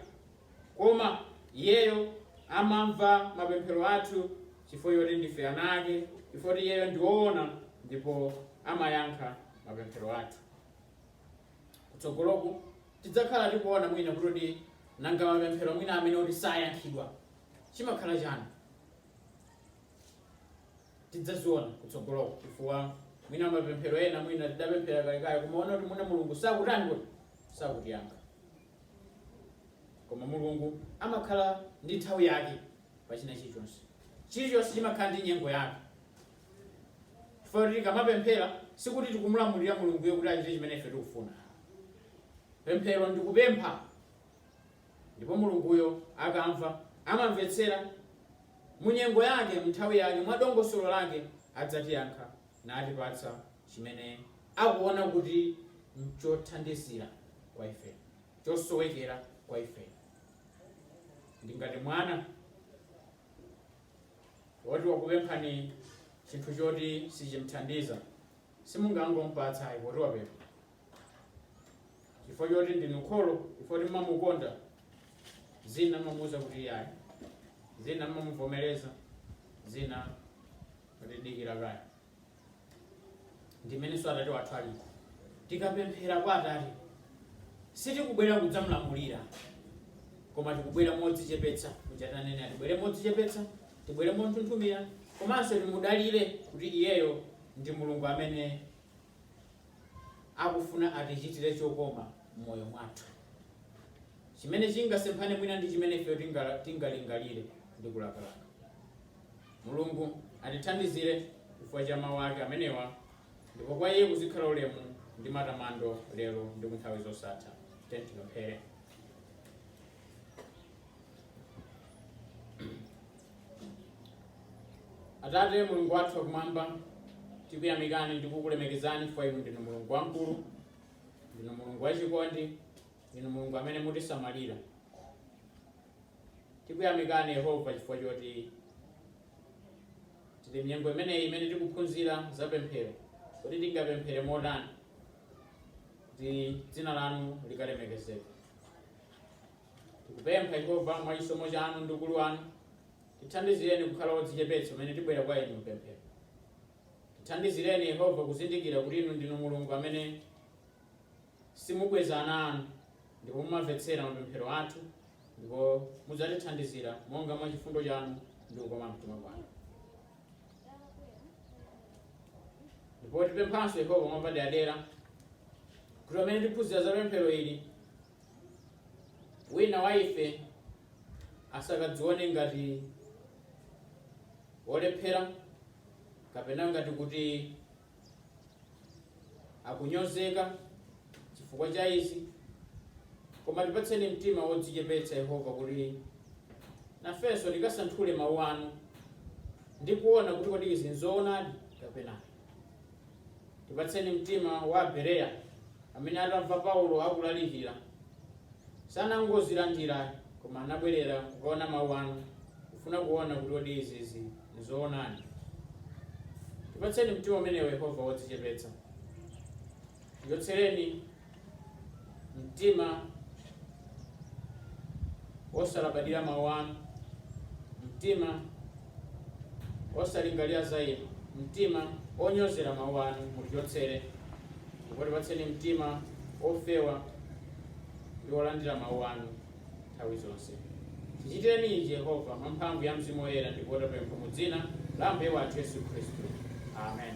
Speaker 1: koma iyeyo amamva mapemphero athu chifukwa choti ndife ana ake, chifukwa choti iyeyo ndi woona ndipo amayankha mapemphero athu. Kutsogoloku tidzakhala tikuona mwina kuti kodi nanga mapemphero mwina amene oti sayankhidwa chimakhala chani tidzaziona kutsogoloku chifukwa mwina mapemphero ena mwina tidapemphera kalekale kumaona kuti mwina mulungu sakutani kuti sakutiyankha koma mulungu amakhala ndi nthawi yake pa china chilichonse chilichonse chimakhala ndi nyengo yake chifukwa kuti tikamapemphera sikuti tikumulamulira mulunguyo kuti achite chimene ife tikufuna pemphero ndi kupempha ndipo mulunguyo akamva amamvetsera munyengo yake mnthawi yake mwa dongosolo lake adzatiyankha natipatsa chimene akuona kuti nchothandizira kwa ife chosowekera kwa ife ndi ngati mwana woti wakupemphani chinthu choti sichimthandiza simungangompatsa ayi poti wapempha chifukwa choti ndinu kholo chifukwa kuti mmamukonda zina mmamuuza kuti iyayi zina mmamuvomereza zina mmati dikira kaye ndi mmenenso atate wathu ali tikapemphera kwa atate sitikubwera kudzamlamulira koma tikubwera modzichepetsa mchitanena tibwere modzichepetsa tibwere monthunthumira komanso timudalire kuti iyeyo ndi mulungu amene akufuna atichitire chokoma m'moyo mwathu chimene chingasemphane mwina ndi chimene ifeyo tingalingalire ndi kulakalaka Mulungu atithandizire chifukwa cha mawu ake amenewa, ndipo kwa iye kuzikhala ulemu ndi matamando lero ndi ku nthawi zosatha. Tipemphere. Atate Mulungu wathu wakumwamba, tikuyamikani ndi kukulemekezani chifukwa inu ndinu Mulungu wamkulu, ndinu Mulungu wachikondi, ndinu Mulungu amene mutisamalira. Tikuyamikani Yehova chifukwa choti tili m'nyengo imeneyi imene tikuphunzira za pemphero. Kodi tingapemphere motani kuti dzina lanu likalemekezeke? Tikupempha Yehova mwa chisomo chanu ndi ukulu wanu, tithandizireni kukhala odzichepetsa pamene tibwera kwa inu m'pemphero. Tithandizireni Yehova kuzindikira kuti inu ndinu Mulungu amene Simubweza ana anu, ndipo mumamvetsera mapemphero athu, ndipo mudzatithandizira monga mwa chifundo chanu ndi kukoma mtima kwanu. Ndipo tipemphanso Yehova mwapaderadera kuti pamene tiphunzira za pemphero ili, wina wa ife asakadzione ngati wolephera kapena ngati kuti akunyozeka chifukwa cha izi koma tipatseni mtima wodzichepetsa yehova kuti nafenso tikasanthule mawu anu ndi kuona kuti kodi izi nzoonadi kapena tipatseni mtima wa abereya amene atamva paulo akulalikira sanangozilandira koma anabwerera kukaona mawu anu kufuna kuona kuti kodi izizi Nzoonadi. Tipatseni mtima umenewo, Yehova, wodzichepetsa. Tichotsereni mtima wosalabadira mawu anu, mtima wosalingalira za inu, mtima wonyozera mawu anu mutichotsere, ndipo tipatseni mtima wofewa ndi wolandira mawu anu. nthawi zonse. Tichitireni ichi, Yehova, mwa mphamvu ya Mzimu Woyera ndipo tapempha mu dzina la Ambuye wathu Yesu Khristu. Amen.